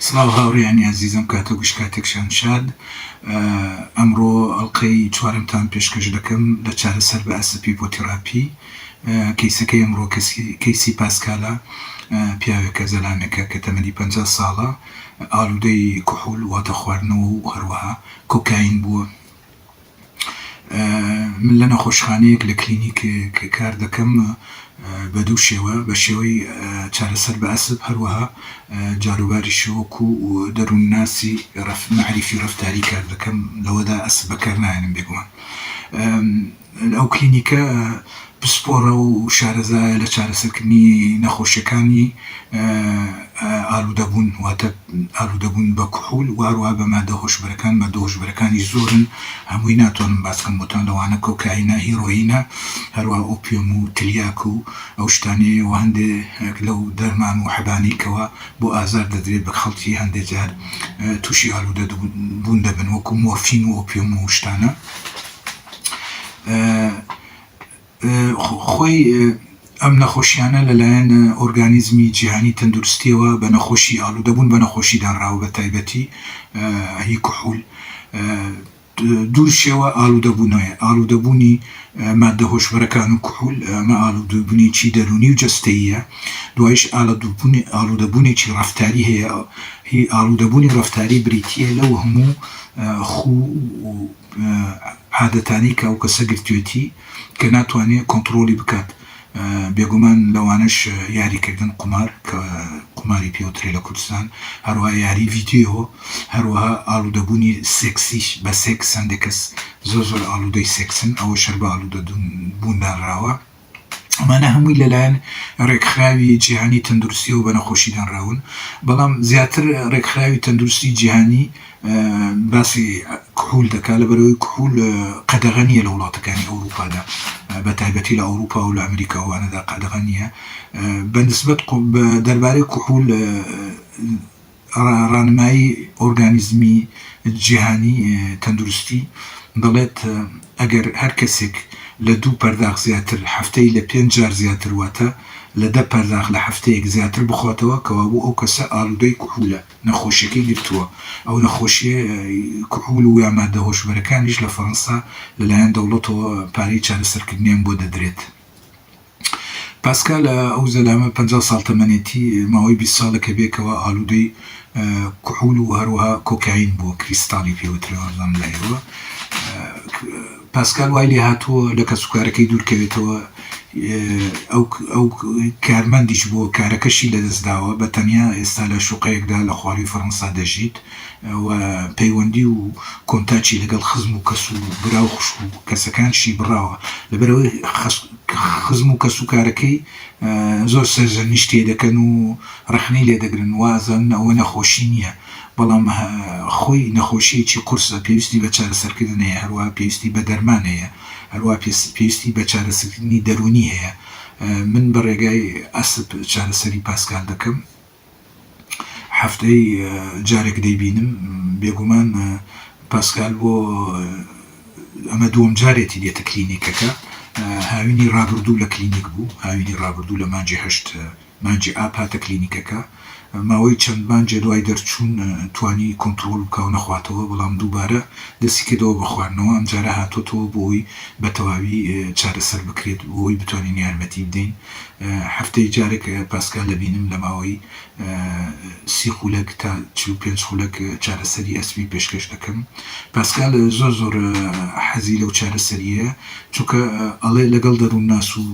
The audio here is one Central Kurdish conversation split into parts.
سڵاو هاوڕێیانی ئازیزم کاتە گوش کاتێکشان شاد ئەمڕۆ ئەڵقەی چوارەمتان پێشکەش دەکەم لە چارەسەر بە ئەسپ هیپۆتیڕاپی کەیسەکەی ئەمڕۆ کەسی کەیسی پاسکالە پیاوێکە زەلامێکە کە تەمەنی پەنجا ساڵە ئالودەی کحول واتە خواردنەوە و هەروەها کۆکاین بووە من لە نەخۆشخانەیەک لە کلینیکێک کار دەکەم بە دوو شێوە، بە شێوەی چارەسەر بە ئەسپ، هەروەها جاروباری شۆک و دەروونناسی رەف مەعریفی رەفتاری کار دەکەم، لەوەدا ئەسپ بەکار نایەنم بێگومان ئەو کلینیکە، پسپۆڕە و شارەزایە لە چارەسەرکردنی نەخۆشییەکانی ئالوودەبوون، واتە ئالوودەبوون بە کحول و هەروەها بە ماددە هۆشبەرەکان، ماددە هۆشبەرەکانیش زۆرن، هەمووی ناتوانم باس بکەم بۆتان، لەوانە کۆکایینە، هیرۆیینە، هەروەها ئۆپیۆم و تلیاک و ئەو شتانەیە و هەندێک لەو دەرمان و حەبانەی کەوا بۆ ئازار دەدرێت بە خەڵکی هەندێک جار تووشی ئالوودەبوون دەبن وەکوو مۆرفین و ئۆپیۆم و ئەو شتانە. خۆی ئەم نەخۆشیانە لەلایەن ئۆرگانیزمی جیهانی تەندروستیەوە بە نەخۆشی ئالوودەبوون بە نەخۆشی دانراوە بە تایبەتی هی کحول دوورشەوە ئالوودەبوونەوەی ئالوودەبوونی مادە هۆشبەرەکان و کحول ئەمە ئالوودووبنیی دەروونی و جەستەیە دوایش ئالە دووبوونی ئالوودەبوونێکی ڕفتاری هەیە هی ئالوودەبوونی ڕفتاری بریتە لەو هەموو خوو و عادەتانەی کە ئەو کەسە گرتوێتی کە ناتوانێ کۆنتڕۆڵی بکات بێگومان لەوانەش یاری کردن قومار کە قوماری پێوترێ لە کوردستان هەروەها یاری ڤیدیۆ هەروەها ئاڵودەبوونی سێکسیش بە سێکس هەندێ کەس زۆر زۆر ئاڵودەی سێکسن ئەوەش هەر بە ئاڵودەبوون دانراوە. ئەمانە هەمووی لەلایەن ڕێکخراوی جیهانی تەندروستیەوە بە نەخۆشی دانراون، بەڵام زیاتر ڕێکخراوی تەندروستی جیهانی باسی کحول دەکات لەبەرەوەی کحول قەدەغە نییە لە وڵاتەکانی ئەوروپادا بە تایبەتی لە ئەوروپا و لە ئەمریکا وانەدا قەدەغە نییە بە نسبەت دەربارەی کحول ڕانمایی ئۆرگانیزمی جیهانی تەندروستی دەڵێت ئەگەر هەر کەسێک لە دوو پەرداخ زیاتر هەفتەی لە پێنج جار زیاتر واتە لە دە پەرداخ لە هەفتەیەک زیاتر بخواتەوە کەوابوو ئەو کەسە ئالودەی کحولە نەخۆشیەکەی گرتووە ئەو نەخۆشیە کحول و یا مادە هۆشبەرەکانیش لە فەرەنسا لەلایەن دەوڵەتەوە پارەی چارەسەرکردنیان بۆ دەدرێت. پاسکال ئەو زەلامە پەنجا ساڵ تەمەنێتی، ماوەی بیست ساڵە کە بێکەوە ئالوودەی کحول و هەروەها کۆکاین بووە، کریستاڵی پێ وترێ وابزانم لای ئێوە. پاسکال وای لێهاتووە لە کەسوکارەکەی دوورکەوێتەوە، ئەو کارمەندیش بووە کارەکەشی لەدەستداوە، بە تەنیا ئێستا لە شوقەیەکدا لە خوارووی فەرەنسا دەژیت. و پەیوەندی و کۆنتاکی لەگەڵ خزم و کەس و برا و خوشک و کەسەکانشی بڕاوە لەبەرئەوەی خزم و کەس و کارەکەی زۆر سەرزەنیشت لێ دەکەن و رەخنەی لێ دەگرن وازانن ئەوە نەخۆشی نییە بەڵام خۆی نەخۆشیەکی قورسە پێویستی بە چارەسەرکردن هەیە هەروەها پێویستی بە دەرمان هەیە هەروەها پێویستی بە چارەسەکردنی دەروونی هەیە من بە رێگای ئەسپ چارەسەری پاسکال دەکەم. هەفتەی جارێک دەیبینم بێگومان پاسکال بۆ ئەمە دووەم جارێتی دێتە کلینیکەکە هاوینی ڕابردوو لە کلینیک بوو هاوینی ڕابردوو لە مانجی هەشت مانجی ئاپ هاتە کلینیکەکە ماوەی چەند مانجێ دوای دەرچوون توانی کۆنتترۆل و کاو نەخواتەوە بەڵام دووبارە دەستی کردەوە بە خواردنەوە ئەم جارە هاتۆتەوە بۆی بە تەواوی چارەسەر بکرێت بۆی بتوانین یارمەتی بدەین هەفتەی جارێک پاسکال دەبینم لە ماوەی سی خولەک تا چل و پێنج خولەک چارەسەری ئەسپی پێشکەش دەکەم پاسکال زۆر زۆر حەزی لەو چارەسەریە چونکە ئەڵێ لەگەڵ دەرون ناس و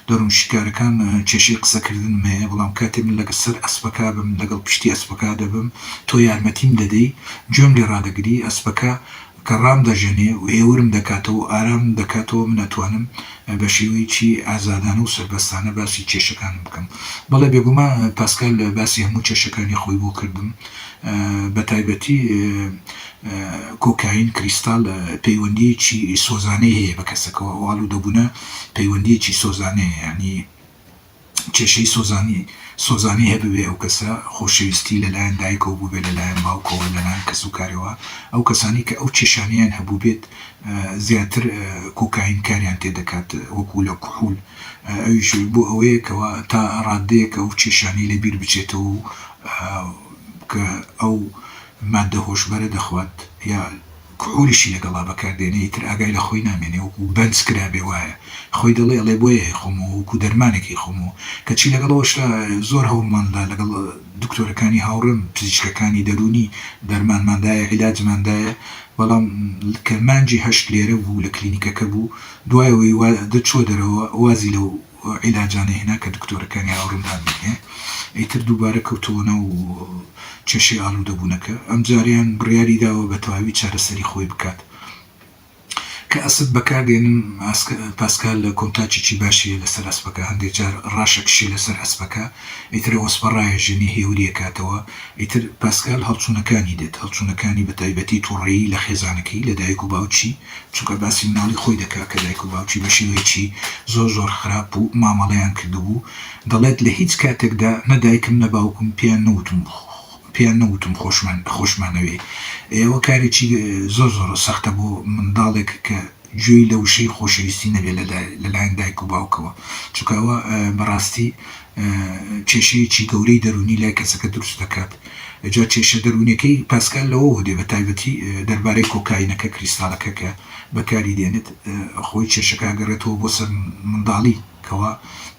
دەرون شیکارەکان کێشەی قسەکردنم هەیە بەڵام کاتێ من لەگەڵ سەر ئەسپەکە بم لەگەڵ پشتی ئەسپەکە دەبم تۆ یارمەتیم دەدەی گوێم لێ ڕادەگری ئەسپەکە کە ڕامدەژێنێ و ئێورم دەکاتەوە و ئارامم دەکاتەوە، من ئەتوانم بە شێوەیەکی ئازادانە و سەربەستانە باسی کێشەکانم بکەم. بەڵێ، بێگومان پاسکال باسی هەموو کێشەکانی خۆی بۆ کردم، بە تایبەتی کۆکاین، کریستاڵ، پەیوەندییەکی سۆزانەی هەیە بە کەسەکەوە، ئەو ئاڵوودەبوونە پەیوەندییەکی سۆزانەیە، یانی. کێشەی سۆزانی سۆزانی هەبوێ ئەو کەسە خۆشەویستی لەلایەن دایکەوە بووبێ لەلایەن باوکەوە لەلایەن کەسوکارەوە ئەو کەسانی کە ئەو کێشانەیان هەبووبێت زیاتر کۆکاین کاریان تێ دەکات وەکوو لە کحول ئەویش بۆ ئەوەیە کەوا تا ڕاددەیەک ئەو کێشانەی لە بیر بچێتەوە و کە ئەو ماددە هۆشبەرە دەخوات یا کحولیشی لەگەڵا بەکاردێنێ ئیتر ئاگای لە خۆی نامێنێ وەکو بەنج کرابێ وایە خۆی دەڵێ ئەڵێ بۆیە هەیخۆمەوە وەکو دەرمانێک هەیخۆمەوە کەچی لەگەڵ ئەوەشدا زۆر هەوڵمان دا لەگەڵ دکتۆرەکانی هاوڕێم پزیشکەکانی دەروونی دەرمانمان دایە عیلاجمان دایە بەڵام کە مانگی هەشت لێرە بوو لە کلینیکەکە بوو دوای ئەوەی وا دەچووە دەرەوە وازی لە و عیلاجانەی هێنا کە دکتۆرەکانی ئاوڕنان بینێ ئیتر دووبارە کەوتەوە ناو کێشەی ئالوودەبوونەکە ئەمجارەیان بڕیاری داوە بە تەواوی چارەسەری خۆی بکات کە ئەسپ بەکار دێنن پاسکال لە کۆنتاکێکی باشیە لەسەر ئەسپەکە هەندێک جار ڕاشەکشی لەسەر ئەسپەکە ئیتر ئەوەسپە ڕایەژێنێ هێوری ئەکاتەوە ئیتر پاسکال هەڵچوونەکانی دێت هەڵچوونەکانی بە تایبەتی توڕەیی لە خێزانەکەی لە دایک و باوکی چونکە باسی مناڵی خۆی دەکات کە دایک و باوکی بە شێوەیەکی زۆر زۆر خراپ و مامەڵەیان کردبوو دەڵێت لە هیچ کاتێکدا نە دایکم نە باوکم پێیان نەوتم پێیان نەوتم خۆشمان خۆشمانەوێ ئەوە کارێکی زۆر زۆر سەختە بۆ منداڵێک کە گوێی لە وشەی خۆشەویستی نەبێت لە لایەن دایک و باوکەوە چونکە ئەوە بەڕاستی کێشەیەکی گەورەی دەروونی لای کەسەکە دروست دەکات. جا کێشە دەروونیەکەی پاسکال لەوەوە دێ بەتایبەتی دەربارەی کۆکاینەکە کریستالەکە کە بەکاری دێنێت خۆی کێشەکە ئەگەڕێتەوە بۆ سەر منداڵی کەوا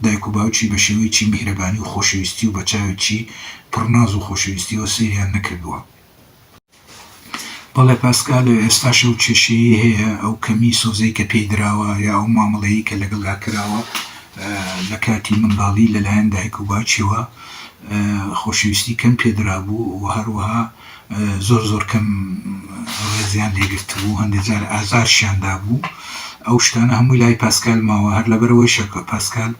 دایک و باوکی بەشێوەیەکی میهرەبانی و خۆشەویستی و بەچاوێکی پڕ ناز و خۆشەویستیەوە سەیریان نەکردووە. بەڵێ پاسکال، ئێستاش ئەو کێشەیەی هەیە، ئەو کەمی سۆزەی کە پێی دراوە یا ئەو مامەڵەیەی کە لەگەڵدا کراوە لە کاتی منداڵی لەلایەن دایک و باوکیەوە خۆشەویستی کەم پێ درابوو و هەروەها زۆر زۆر کەم ڕێزیان لێ گرتبوو، هەندێک جار ئازارشیان دابوو، ئەو شتانە هەمووی لای پاسکال ماوە، هەر لەبەرئەوەیشە کە پاسکال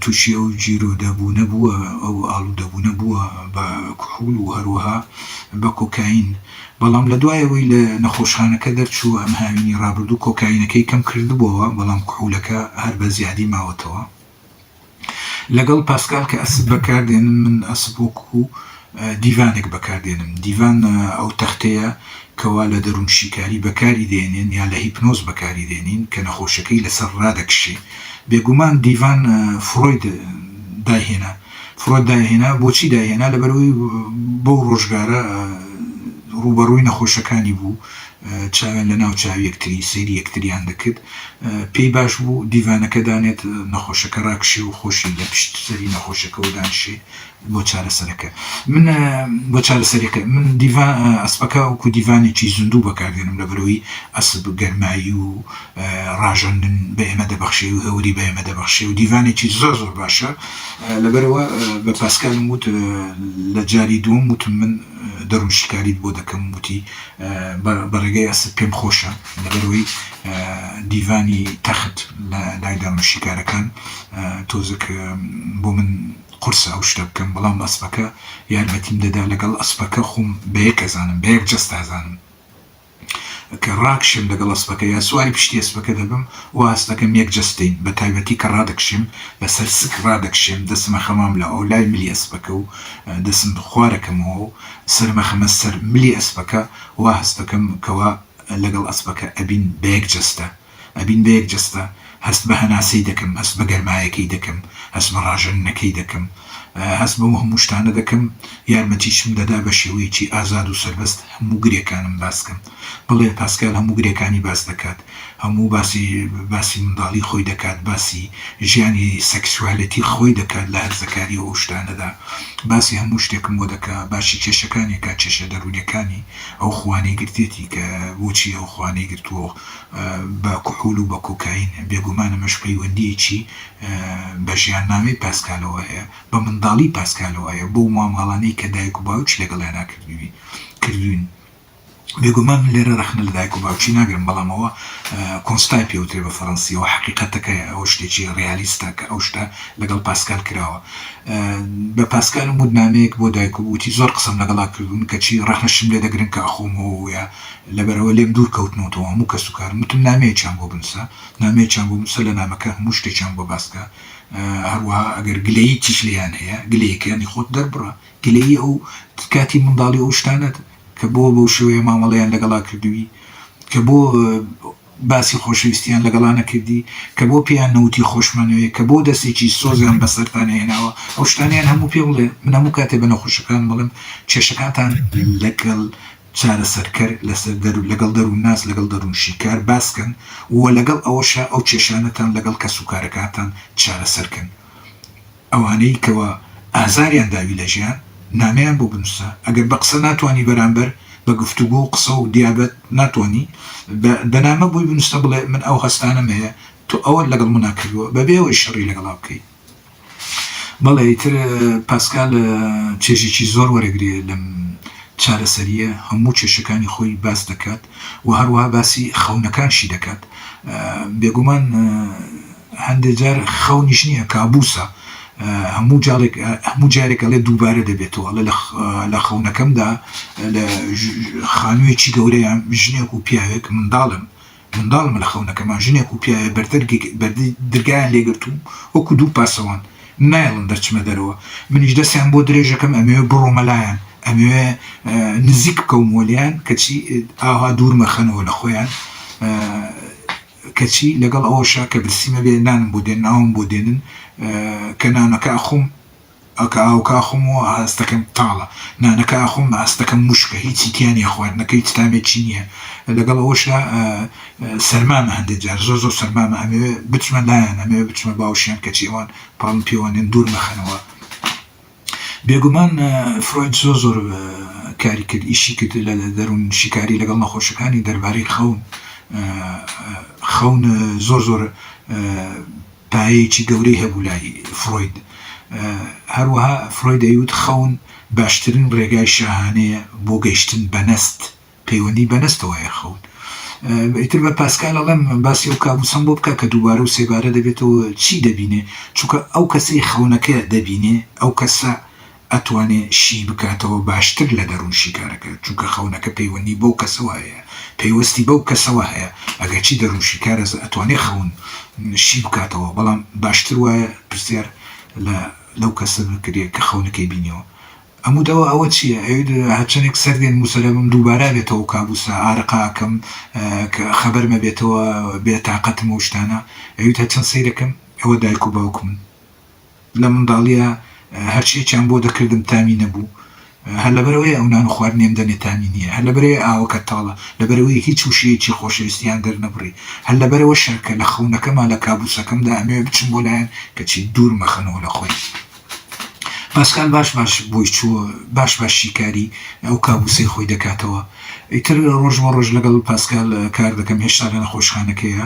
تووشی ئەو گیرۆدەبوونە بووە، ئەو ئاڵوودەبوونە بووە بە کحول و هەروەها بە کۆکاین، بەڵام لە دوای ئەوەی لە نەخۆشخانەکە دەرچوو، ئەم هاوینی ڕابردوو کۆکاینەکەی کەم کردبووەوە، بەڵام کحولەکە هەر بە زیادی ماوەتەوە. لەگەڵ پاسکال کە ئەسپ بەکاردێنم، من ئەسپ وەکوو دیڤانێک بەکار دێنم، دیڤان ئەو تەختەیە کەوا لە دەروونشیکاری بەکاری دێنێن یا لە هیپنۆز بەکاری دێنین کە نەخۆشەکەی لەسەر ڕادەکشێ بێگومان دیڤان فرۆید دایهێنا فرۆد دایهێنا بۆچی دایهێنا لەبەرەوەی بەو ڕۆژگارە ڕووبەڕووی نەخۆشەکانی بوو چاوێن لە ناو چاوی یەکتری سەیری یەکتریان دەکرد پێی باش بوو دیڤانەکە دانێت نەخۆشەکە ڕاکشێ و خۆشی لە پشت سەری نەخۆشەکەەوە دانشێ بۆ چارەسەرەکە من بۆ چارەسەرەکە من دیڤا ئەسپەکە وەکو دیڤانێکی زیندوو بەکاردێنم لە بەرەوەی ئەسب گەرمایی و ڕاژەندن بە ئێمە دەبەخشێ و هەوری بە ئێمە دەبەخشێ و دیڤانێکی زۆر زۆر باشە لەبەرەوە بە پاسکالم وت لە جاری دووەم وتم من دەروم شیکاریت بۆ دەکەم وتی بەڕێگەی ئەسب پێم خۆشە لەبەرەوەی دیڤانی تەخت لە لای دەروم شیکارەکان تۆزک بۆ من قورسە ئەو شتە بکەم بەڵام ئەسپەکە یارمەتیم دەدا لەگەڵ ئەسپەکە خۆم بەیەک ئەزانم بەیەک جەست ئازانم کە ڕاکشێم لەگەڵ ئەسپەکە یا سواری پشتی ئەسپەکە دەبم وا ئەسپەکەم یەک جەستین بە تایبەتی کە ڕادەکشێم لەسەر سک ڕادەکشێم دەسم ئەخەمام لە ئەو لای ملی ئەسپەکە و دەسم خوارەکەمەوە و سەرم ئەخەمە سەر ملی ئەسپەکە وا هەستەکەم کەوا لەگەڵ ئەسپەکە ئەبین بەیەک جەستە ئەبین بە یەک جەستە، هەست بە هەناسەی دەکەم، هەست بە گەرمایەکەی دەکەم، هەست بە ڕاژەننەکەی دەکەم، هەست بەو هەموو شتانە دەکەم، یارمەتیشم دەدا بە شێوەیەکی ئازاد و سەربەست هەموو گرێکانم باس کەم. بەڵێ پاسکال هەموو گرێکانی باس دەکات، هەموو باسی باسی منداڵی خۆی دەکات، باسی ژیانی سێکسیوالێتی خۆی دەکات لە هەرزەکاری و ئەو شتانەدا، باسی هەموو شتێکم بۆ دەکا، باسی کێشەکانی ئەکا، کێشە دەروونیەکانی، ئەو خووانەی گرتێتی کە بۆچی ئەو خووانەی گرتووە و. بە کحول و بە کۆکاین، بێگومان ئەمەش پەیوەندییەکی بە ژیاننامەی پاسکالەوە هەیە، بە منداڵی پاسکالەوە هەیە، بۆ ماماڵانەی کە دایک و باوکی لەگەڵیانا کردووین. بێگومان من لێرە رەخنە لە دایک و باوکی ناگرم، بەڵام ئەوە کۆنستای پێوترێ بە فەرەنسییەوە، حەقیقەتەکەیە، ئەوە شتێکی رێالیستە کە ئەو شتە لەگەڵ پاسکال کراوە. بە پاسکالم وت نامەیەک بۆ دایکم وتی زۆر قسەم لەگەڵا کردوون، کەچی رەخنەشم لێ دەگرن کە ئەخۆمەوە و یا لەبەرئەوە لێم دوور کەوتنەوتەوە هەموو کەس و کارم وتم نامەیەکیان بۆ بنووسە نامەیەکیان بۆ بنووسە لە نامەکە هەموو شتێکیان بۆ باس کە هەروەها ئەگەر گلەییکیش لێیان هەیە گلەییەکانی خۆت دەربڕە گلەیی ئەو کاتی منداڵی ئەو شتانەت کە بۆ بەو شێوەیە مامەڵەیان لەگەڵا کردووی کە بۆ باسی خۆشەویستیان لەگەڵا نەکردی کە بۆ پێیان نەوتی خۆشمانەوێ کە بۆ دەستێکی سۆزیان بەسەرتا نەهێناوە ئەو شتانەیان هەموو پێ بڵێ من هەموو کاتێ بە نەخۆشەکانم بڵێم کێشەکانتان لەگەڵ چارەسەرکەر لەسەر دەرو لەگەڵ دەروونناس لەگەڵ دەروونشیکار باس کەن و لەگەڵ ئەوەشا ئەو کێشانەتان لەگەڵ کەسوکارەکانتان چارەسەر کەن ئەوانەی کەوا ئازاریان داوی لە ژیان نامەیان بۆ بنوسە ئەگەر بە قسە ناتوانی بەرامبەر بە گفتوگۆ و قسە و دیابەت ناتوانی بە بە نامە بۆی بنوسە بڵێ من ئەو هەستانەم هەیە تۆ ئەوەت لەگەڵ منا کردووە بەبێ ئەوەی شەڕی لەگەڵا بکەی بەڵێ ئیتر پاسکال چێژێکی زۆر وەرەگرێ لەم چارەسەرییە هەموو کێشەکانی خۆی باس دەکات و هەروەها باسی خەونەکانشی دەکات بێگومان هەندێک جار خەونیش نییە کابوسە هەموو جارێک هەموو جارێک ئەڵێ دووبارە دەبێتەوە ئەڵێ لە خەونەکەمدا لە خانوویەکی گەورەیان ژنێک و پیاوێک منداڵن گەنداڵ مەلا خەونەکەمان ژنێک و پیاوێ بەردەرگەی درگایان لێگرتووم وەکو دوو پاسەوان نایڵن دەرچمە دەرەوە منیش دەستیان بۆ درێژەکەم ئەمەوێ بڕۆمە لایان ئەمەوێ نزیک بکەومەوە لێیان کەچی ئاوا دوور مەخەنەوە لە خۆیان کەچی لەگەڵ ئەوەشا کە برسیمە بێ نانم بۆ دێن ناوم بۆ دێنن کە نانەکە ئەخۆم ئەکا ئاوکە ئەخۆم و ئاستەکەم تاڵە، نانەکە ئەخۆم ئاستەکەم وشکە، هیچی تیا نییە، خواردنەکە هیچ تامێکی نییە، لەگەڵ ئەوەشدا سەرمامە، هەندێک جار زۆر زۆر سەرمامە، ئەمەوێ بچمە لایان، ئەمەوێ بچمە باوشیان، کەچی ئەوان پەڕم پێوە نێن، دوور مەخەنەوە. بێگومان فرۆید زۆر زۆر کاری کرد، ئیشی کرد لە دەروونشیکاری لەگەڵ نەخۆشەکانی دەربارەی خەون، خەون زۆر زۆر پایەیەکی گەورەی هەبوو لای فرۆید. هەروەها فرۆید دەیوت خەون باشترین ڕێگای شاهانەیە بۆ گەیشتن بە نەست، پەیوەندی بە نەستەوە هەیە خەون. ئیتر بە پاسکال ئەڵێم باسی ئەو کابوسەم بۆ بکە کە دووبارە و سێبارە دەبێتەوە، چی دەبینێ؟ چونکە ئەو کەسەی خەونەکە دەبینێ، ئەو کەسە ئەتوانێ شی بکاتەوە باشتر لە دەرون شیکارەکە چونکە خەونەکە پەیوەندی بەو کەسەوە هەیە پەیوەستی بەو کەسەوە هەیە ئەگەرچی دەرون شیکارەز ئەتوانێ خەون شی بکاتەوە بەڵام باشتر وایە پرسیار لە لەو کەسە بکرێ کە خەونەکەی بینیەوە ئەموت ئەوە ئەوە چیە ئەوێت هەرچەنێک سەر دێن موسەلەمم دووبارا بێتەوە کابوسە ئارەقە ئەکەم کە خەبەرمە بێتەوە بێ تاقەتم ئەو شتانە ئەویت هەرچەن سەیرەکەم ئەوە دایک و باوکمن لە منداڵییە هەر چییەکیان بۆ دەکردم تامی نەبوو، هەر لەبەرئەوەیە ئەو نان و خواردنەم دەمێ تامی نییە، هەر لەبەرئەوەیە ئاوەکە تاڵە، لەبەرئەوەیە هیچ وشەیەکی خۆشەویستییان دەرنەبڕی، هەر لەبەرئەوە شەرکە لە خەونەکەما، لە کابووسەکەمدا ئەمەوێ بچم بۆ لایان، کەچی دوور مەخەنەوە لە خۆی. پاسکال باش باش بۆی چوو، باش باش شیکاریی ئەو کابووسەی خۆی دەکاتەوە. ئیتر ڕۆژ بۆ ڕۆژ لەگەڵ پاسکال کار دەکەم، هێشتا لە نەخۆشخانەکەیە.